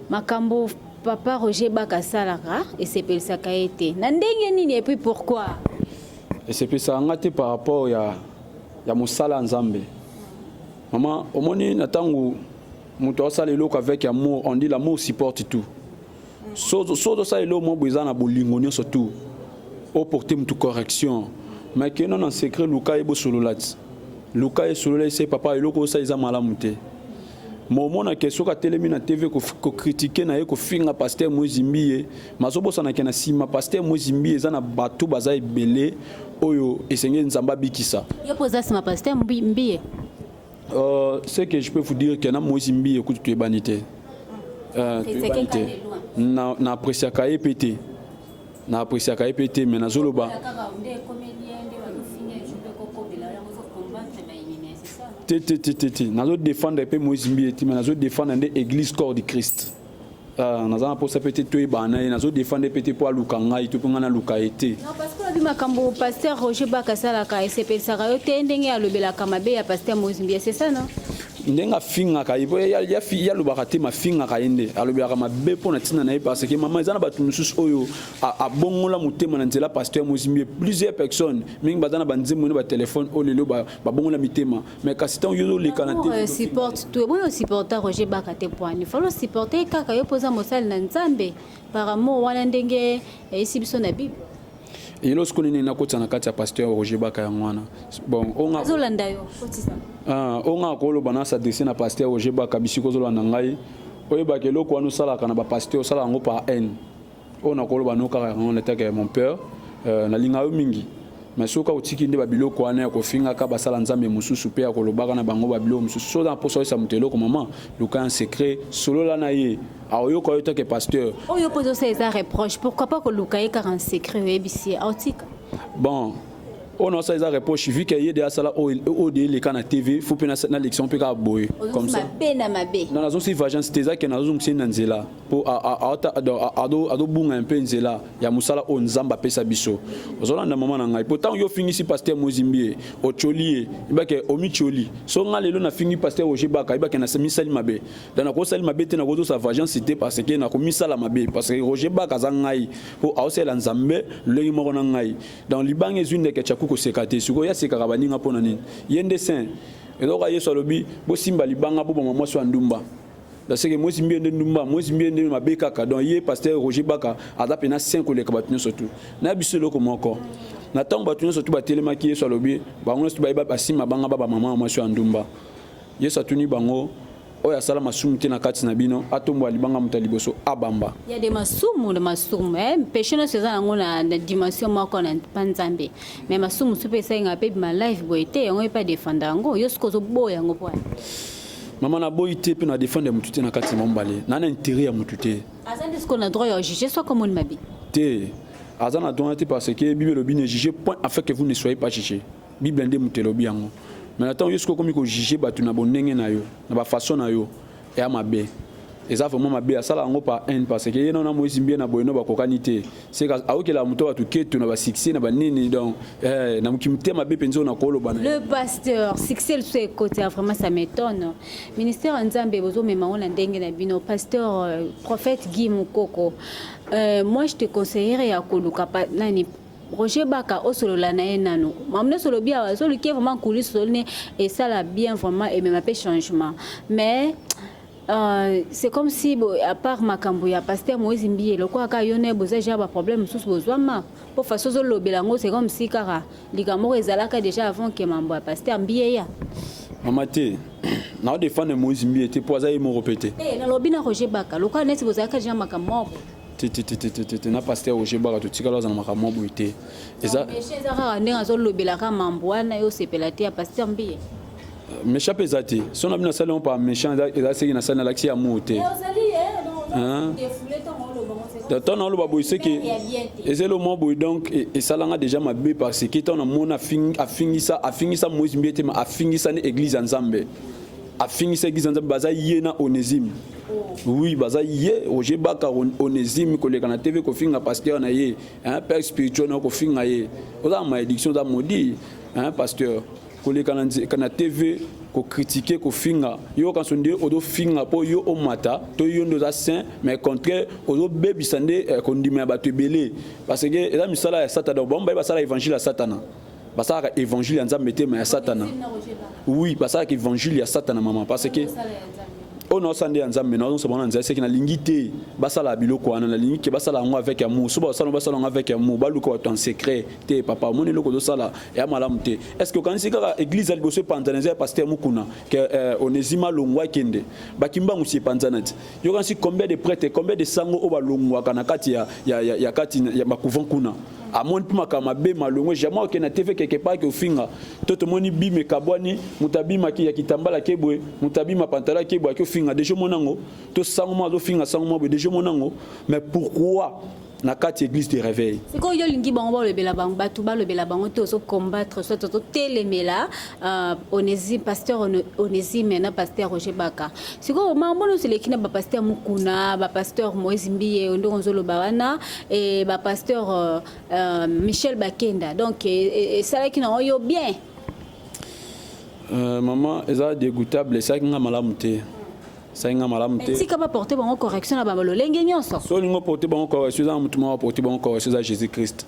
A: makambo Papa Roger Baka asalaka esepelisaka ye te na ndenge nini et puis pourquoi?
B: Esepelisaka nga te par rapport ya, ya mosala ya Nzambe. Mama, omoni na ntango moto asala eloko avec amour, on dit l'amour supporte tout. So ozosala eloko moko boye eza na bolingo nyonso tout, oporte moto correction, mais keno na secret luka ye bosolola ti luka ye solola ye se papa eloko osala eza malamu te Mo mona ke soki atelemi na TV ko, ko critiquer na ye ko finga pasteur Moise Mbiye, mazo bosana ke na sima pasteur Moise Mbiye eza na bato baza ebele oyo esengeli Nzambe abikisa. Yo poza sima pasteur
A: Mbiye? Euh,
B: ce que je peux vous dire que na Moise Mbiye kutu tu es banité. Euh, tu es banité. Na na apprécier ka ye pété. na apresiaka ye mpe te me nazoloba te te te te te nazo défendre mpe moïse mbiye te me nazo défendre nde église corps du christ ah, naza na mposa mpe te toyebana na ye nazo défendre mpe te mpo aluka ngai to mpe ngai naluka ye te alobi makambo
A: paster roger baka asalaka esepelisaka yo te ndenge alobelaka mabe ya paster moïse mbiye c'est ça non ndenge afingaka
B: ye po yalobaka te mafingaka ye nde alobelaka mabe mpo na ntina na ye parce que mama eza na bato mosusu oyo abongola motema na nzela pasteur mozimbi ye plusieurs personnes mingi baza na banzembo na batelefone oyo lelo babongola mitema mais kasi ntango yo oleka na euh, supporte tout eboni
A: osupporta roger baka te poani falo osupporte kaka yo mpo oza mosali na nzambe par amour wana ndenge eyisi biso na bible Yelo siku
B: nini nakotisa na kati ya pasteur Roger Baka yango wana. Bon, onga azolanda yo
A: kotisa. Ah, onga
B: koloba na s'adresser na pasteur Roger Baka bisiko zolanda ngai. Oyebaka eloko wana osalaka na ba pasteur osala yango par haine. Oyo nakoloba no kaka yango na taka ya mon père. Euh, nalinga yo mingi. Mais soki otiki nde ba biloko wana ya kofingaka basala nzambe mosusu mpe ya kolobaka na bango ba biloko mosusu soki oza na mposa oyesa moto eloko mama luka ya secret solola na ye aoyoka yo toke pasteur oyo mpo ezosala eza
A: reproche pourquoi pas koluka ye kaka en secret oyebisi ye aotika bon
B: oyo nasala eza reproche vu ke ye de asala oyo de eleka na tv fo mpe na lection mpe kaka boye comme ça mabe na mabe na nazongisi vagence te eza ke nazozongisa ye na nzela mpo adobunga ya mpe nzela ya mosala oyo nzambe apesa biso ozolanda mama na ngai mpo ntango yo ofingisi paster mozimbi ye otyoli ye yebake omityoli so ngai lelo nafingi paster roger baka yebake namisali mabe donc nakosali mabe te nakozosa vagence te parce que nakomisala mabe parce que roger bak aza ngai mpo aosalela nzambe lolenge moko na ngai donc libanga ezwi ndeke chaku koseka te sikoyo ye asekaka baninga mpo na nini ye nde saint ezoka yesu alobi bosimba libanga boboma mwasi ya ndumba daseke mwesi mbie nde ndumba mwesi mbie nde mabe kaka donc ye pasteur roger baka aza mpena saint koleka bato nyonso tu na biso eloko moko na ntango bato nyonso tu batelemaki yesu alobi bango nyonso tu bayeba basima banga ba bamama ya mwasi ya ndumba Yesu atuni bango, oyo asala masumu te na kati na bino atombola libanga moto ya liboso abamba ya de masumu
A: na masumu eh, mpeshe nyonso eza nango na, na dimension moko na mpa nzambe me masumu mosusu mpe esenga mpe bima live boye te yango epa defanda yango yo soki ozoboya yango mpo mama
B: naboyi te mpe na defendre ya motu te na kati na mombale na na intérêt ya motu te aza nde sikoyo na droit ya
A: juge soki omoni mabe te
B: aza na droit te parce que bible elobi ne juge point afin que vous ne soyez pas juge Bible nde moto elobi yango. Mais na ntango yo sikoyo okomi ko juger bato na bondenge na yo, na ba façon na yo, eya mabe. Eza vraiment mabe, asala yango par haine parce que ye na na Moïse Mbiye na Boyeno bakokani te. C'est aokela moto bato keto na ba succès na ba nini donc eh, na mokimite mabe mpenza oyo nakoloba na Le pasteur,
A: succès lisusu ekota vraiment ça m'étonne. Ministère ya Nzambe bozomema yango na ndenge na bino. Pasteur euh, prophète Guy Mukoko, euh, moi je te conseillerais ya koluka pa, nani Roger Baka osolola na ye nanu mamu nyonso olobi awa ezoluki ye vraiment kulisi ozoli ne esala bien vraiment emema mpe changement mais Euh, c'est comme si bo, à part makambo ya pasteur moïse mbiye lokola kaka yo naye boza ja baproblème mosusu bozwama mpo façon ozolobela yango c'est comme si kaka likambo moko ezalaka déjà avant ke mambo ya pasteur mbiye ya mama te
B: nao defendre moïse mbiye te mpo aza ye moko mpe te eh, nalobi na roger
A: baka lokola neti bozalaka ja makambo moko titititititi
B: na pasteur roger baka totikala aza na makambo mwa boye te eza kaka ndenge
A: azolobelaka mambo wana yo osepela te ya pasteur mbiye euh, méchant mpe
B: eza te so na bino asali yango pa méchant eza seki nasali nalakisi ya muu te ntango naoloba boye seke eza elo mwa boye donc e, esalanga déjà mabe parce que ntango namoni afingisa afingisa moïse mbiye te ma afingisa nde église ya nzambe afingisaki zanza baza ye na onésime oui baza ye roger baka onésime koleka na tv kofinga pasteur na ye hein, père spirituel na kofinga ye oza na malédiction oza maudit hein, pasteur koleka na, na tv kokritike kofinga yo kanso nde ozofinga mpo yo omata to yo nde oza saint mais contraire ozobebisa nde eh, kondima ya bato ebele parce que eza misala ya satana bango baye basala évangile ya satana basalaka évangile ya nzambe te ma ya satana oui basalaka évangile ya satana mama parce que oyo naosala nde ya nzambe naozosa bango na nzela seke nalingi te basala biloko wana nalingi ke basala yango avec amour so basala basala yango avec amour baluka bato en secret te papa omoni eloko ozosala ya malamu te est ce que okanisi kaka église ya liboso epanzana eza ya paster mokuna ke euh, onesima longwa akende bakimbangu si epanzana ti yokanisi combien de prêtre combien de sango oyo balongwaka na kati ya, ya, ya, ya, kati ya bacouvent kuna amoni mpe makambo mabe malongwe jamai oke na tv quelque part ke ofinga to tomoni bima ekabwani moto abima ki ya kitambala ke boye moto abima pantalo ake boye ake ofinga deja omona yango to sango moko azofinga sango moko boye deja omona yango mais pourquoi na kati église de réveil sikoyo yo olingi bango
A: balobela bango bato balobela bango te ozo combattre soit ozotelemela Uh, onesi pasteur onesime na pasteur roger baka sikoyo makambo nyonso eleki na bapasteur mokuna bapasteur moïse mbiye oyo ndenge ozoloba wana e bapasteur uh, uh, michel bakenda donc esalaki e, e, na oyo bien uh,
B: mama eza dégoutable esalaki nga malamu te esalaki nga malamu te tika baporte bango correction
A: na balolenge nyonso so olingi oporte bango
B: correction eza na motu moko aporte bango correction eza jésus christ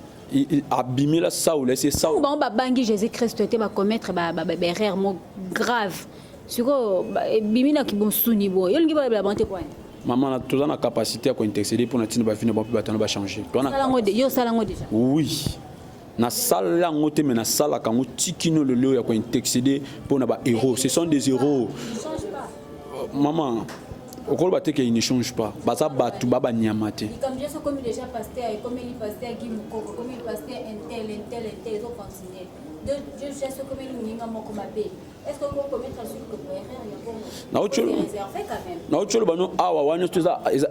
B: abimela saul ese saul bango babangi jésus
A: christ te bacommettre baerreur mo grave sikoyo ebimi na kibonsuni boye olingi balobela bango te kwani mama toza na
B: capacité ya kointercede mpo na ntina bavino bape bato wana bachange yo osala yango deja
A: oui
B: nasala yango te me nasalaka yango tikino lelo ya kointercede mpo na bahéros ce sont des héros Maman, okoloba te ke il ne change pas baza bato ba banyama te
A: naotyolo bano awa
B: wana nyonso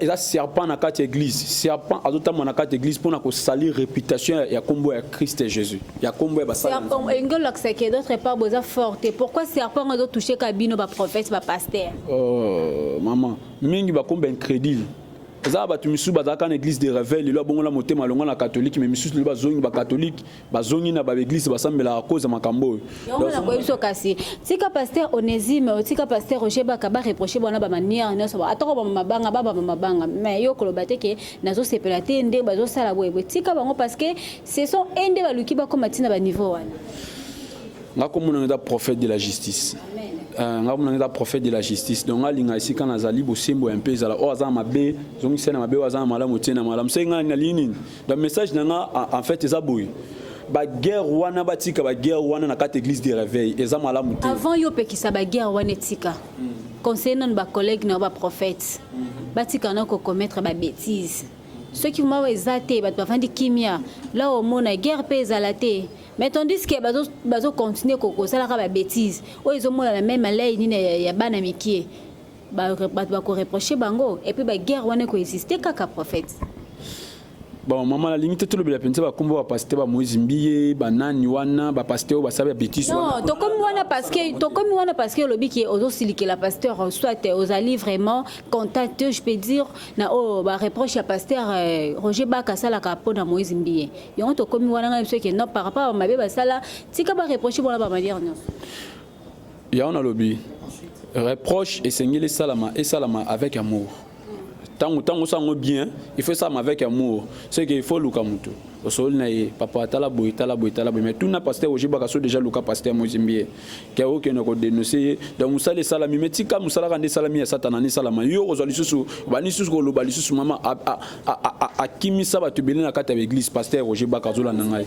B: eza serpent na kati ya église serpent azotambola na kati ya église mpo na kosalir réputation ya nkombo ya christ jésus ya kombo ya basala serpent engo lakisa que
A: d'autre part boza forte pourquoi serpent ezo toucher ka bino ba prophète ba pasteur oh maman
B: mingi ba kombo incrédule eza bato misusu bazalaka na église de revel lelo abongola motema alonga na katholike me misusu lelo bazongi bakatholike bazongi na baeglise basambelaka koza makambo oyo yangonakoyebiso
A: kasi tika paster onésime otika paster roger baka bareproche bana bamaniere nyonso atako bamamabanga babamamabanga me yo koloba te ke nazosepela te nde bazosala boyeboye tika bango parce que Ce sont eux nde baluki bakoma ti na ba niveau wana. Nga
B: komona nga eza prophète de la justice. Euh, nga komona nga eza prophète de la justice. Donc nga linga esika nazali bosembo ya mpe ezala oyo aza na mabe, zongisa na mabe oyo aza na malamu tie na malamu. Soki nga nalingi nini? Donc message na nga en fait eza boye. Ba guerre wana batika ba guerre wana na kati
A: église
B: de réveil eza
A: malamu
B: te. Avant
A: yo
B: pekisa ba guerre wana etika. Mm.
A: Conseiller nanu ba collègues na ba prophètes. Mm. Batika na ko commettre ba bêtises. soki mawa eza te bato bafandi kimia la omona guerre mpe ezala te mais tandis que bazo, bazo continuer kosalaka ba bêtise oyo ezomonana meme alei nini ya, ya bana mikie bato bakoreproche bango epuis baguerre wana ekoexiste kaka prophète
B: bon mama nalingi te tolobela mpenza bakombo bapaster ba moise mbiye banani wana bapaster oyo basala ya betise non tokomi wana
A: parceke tokomi wana parceke olobi ke ozosilikela pasteur soit ozali vraiment contact je peux dire na oyo ba reproche ya pasteur euh, Roger Baka asalaka mpo na Moïse Mbiye yango tokomi wana ngai biso ke non par rapport mabe basala tika ba reproche wana ba manière nyonso
B: yango nalobi reproche esengeli esalama esalama avec amour ntango ntango osala yango bien il faut esalama avec amour ce que il faut luka moto osololi na ye papa tala boye tala boye tala boye mais tuna pasteur Roger Baka so déjà luka pasteur Moïse Mbiye ke okende ko denoncer ye donc mosala esalami me tika mosala kanda esalami ya satana nde esalama yo okozwa lisusu obandi lisusu koloba lisusu mama akimisa bato ebele na kati ya baeglise paster roger baka azolanda ngai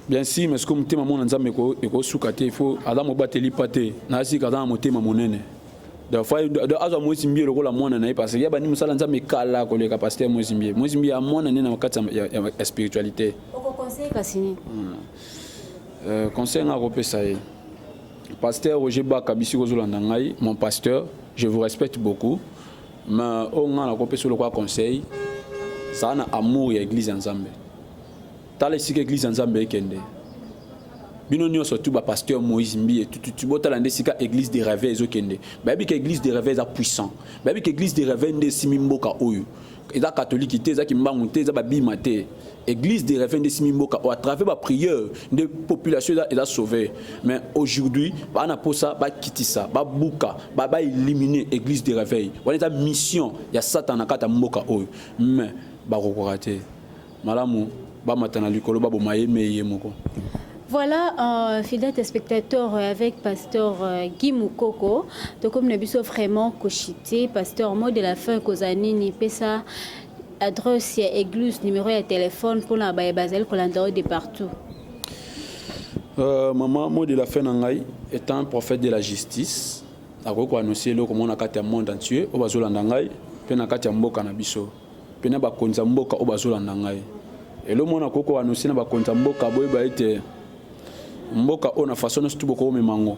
B: bien si mais soki motema mwana nzambe ekosuka te ifo aza mobateli pa te nayasika aza na motema monene donc fa donc azwa moise mbie lokola mwana na ye parce que ya bandi mosala nzambe kala koleka pasteur moise mbie moise mbie ya mwana nde na kati ya, ya, ya spiritualité
A: hmm. euh, conseil
B: nga akopesa ye pasteur roger baka bisi kozolanda ngai mon pasteur je vous respecte beaucoup mais oyo oh, ngai nakopesa lokola conseil zala na amour ya église ya nzambe Tala esika eglise ya Nzambe ekende. Bino nyoso tu ba pasteur Moïse Mbiye tu tu tu botala nde sika église de rêve ezokende. Bayebi ke église de rêve eza puissant. Bayebi ke église de rêve nde esimi mboka oyo. Eza catholique te, eza kimbangu te, eza babima te. Église de rêve nde esimi mboka oyo à travers ba prière nde population eza eza sauver. Mais aujourd'hui bana posa bakitisa, babuka, ba ba éliminer église de réveil. Wana eza mission ya Satan na kata mboka oyo. Mais bakokoka te. Malamu bamata na likolo baboma ye mei ye moko. Voilà,
A: euh, fidèle téléspectateur euh, avec pasteur euh, Guy Mukoko. Donc, comme nous avons vraiment cochité, pasteur, mot de la fin, Kozanini, Pessa, adresse, église, numéro de téléphone pour la baie basel, Kolandao de partout. Euh,
B: maman, mot de la fin, Nangai, est un prophète de la justice. akoki koannonce eloko mona kati ya monde entier oyo bazolanda ngai mpe na kati ya mboka na biso mpe na bakonzi ya mboka oyo bazolanda ngai elo mwana akoki koanonse na bakonzi ya mboka boyeba ete mboka oyo na faso nyonso tu bokomema yango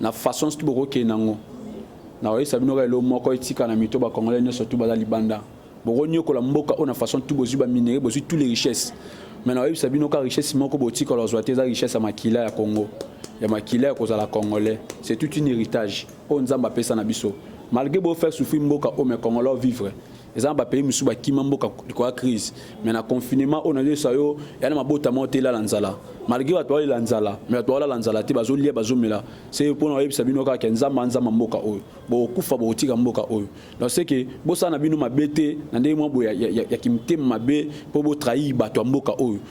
B: na faso nyonso tu bokokende yango na koyebisa bino kaka elo moko etika na mito bakongole nyonso tu baza libanda bokonyokola mboka oyo na façon tu bozwi baminere bozwi tous les richesses me na koyebisa bino kaka richesse moko botikala kozwa te eza richesse ya makila ya congo ya makila ya kozala congolais c'est tout une héritage oyo nzambe apesa na biso malgré bo faire souffrir mboka oyo mais congolais vivre eza na bapays mosusu bakima mboka likoya crise mais na confinement oyo nazoyesa yo ya na mabota moko te elala nzala malgré bato balela nzala me bato balala nzala te bazolia bazomela se mpona bayebisa bino kaka ya nzambe anzamba mboka oyo bokokufa bokotika mboka oyo donc seke bosala na bino mabe te na ndenge mwa boye ya, ya, ya, ya kimtema mabe mpo botrahi bato ya mboka oyo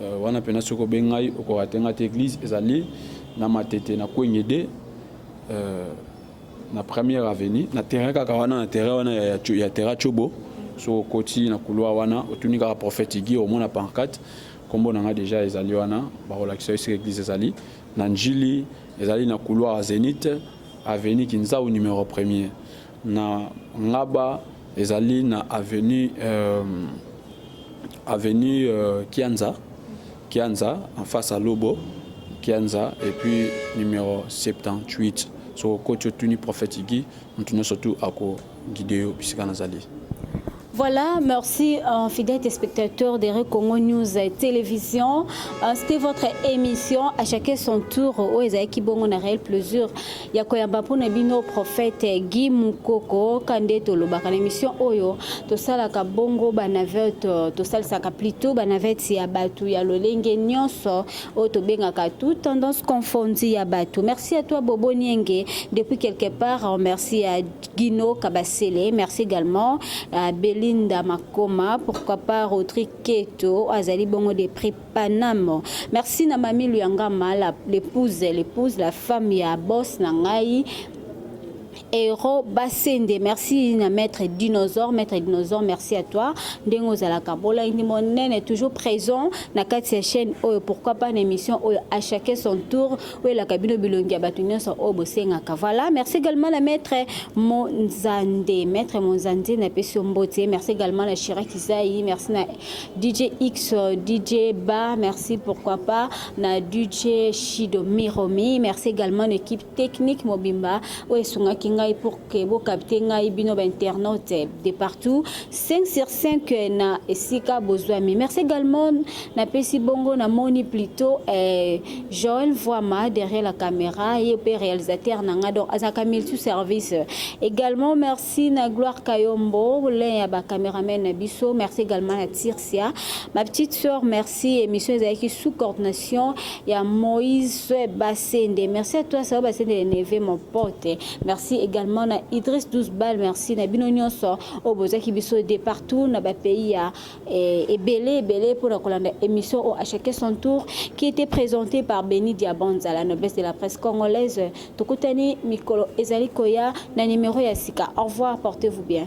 B: Euh, wana pena soki obengai okoka te nga te église ezali na matete na kwengede euh, na première avenue na terrain kaka wana na terrain wana ya, ya terrain chobo soki okoti na couloir wana otuni kaka prophète igi omona pancarte nkombo na nga deja ezali wana bakolakisa yo soki église ezali na njili ezali na couloir zenith avenue kinzau numero premier Na ngaba ezali na avenue avenue kianza kianza en face ya lobo kianza et puis numero 78 soki okoti otuni prophète Guy mutu nionso tout ako guide yo bisika nazali. Voilà,
A: merci euh, fidèles téléspectateurs de Congo News Télévision. Euh, C'était votre émission à chacun son tour au Ezaïki Bongo na réel plaisir. Yakoyamba pour Nabino prophète Guy Mukoko kande tolobaka na émission oyo tosalaka bongo ba navette euh, tosalaka plutôt ba navette ya batu ya lolenge nyonso oyo tobengaka tout tendance confondue ya batu. Merci à toi Bobo Nienge depuis quelque part. Merci à Gino Kabasele, merci également à Belinda Makoma, pourquoi pas Rodrigue Keto, Azali Bongo de prix Paname. Merci na Mami Luyangama, l'épouse, l'épouse, la femme ya boss na ngai, Hero Basende, merci na maître Dinosaure, maître Dinosaure, merci à toi. Ndengo Zalaka Bola Inimonene toujours présent na Katia chaîne Oyo, pourquoi pas une émission Oyo à chacun son tour. Welaka bino bilongi ya bato nyonso oyo bosengaka. Voilà, merci également na maître Monzande. Maître Monzande na pesi mbote. Merci également na Chira Kizayi, merci na DJ X, DJ Ba, merci pourquoi pas na DJ Shido Miromi. Merci également na équipe technique mobimba oyo esungaki ngai pour que bo capter ngai bino ba internautes de partout 5 sur 5 euh, na esika bozwami merci également na pesi bongo na moni plutôt eh, Joël Voima derrière la caméra ye pe réalisateur na nga donc azaka multi service également merci na Gloire Kayombo l'un ya ba cameraman na biso merci également na Tir Sia. Ma petite sœur, merci. Émission Ezaki sous coordination ya Moïse Basende. Merci à toi, Sao Basende Neve, mon pote. Merci également na Idriss Douzbal. Merci na bino nyonso. Oboza kibiso de partout na ba pays ya eh, ebele ebele pour la kolanda émission au à chacun son tour qui était présentée par Benny Diabanza, la noblesse de la presse congolaise. Tokutani mikolo ezali koya na numéro ya sika. Au revoir, portez-vous bien.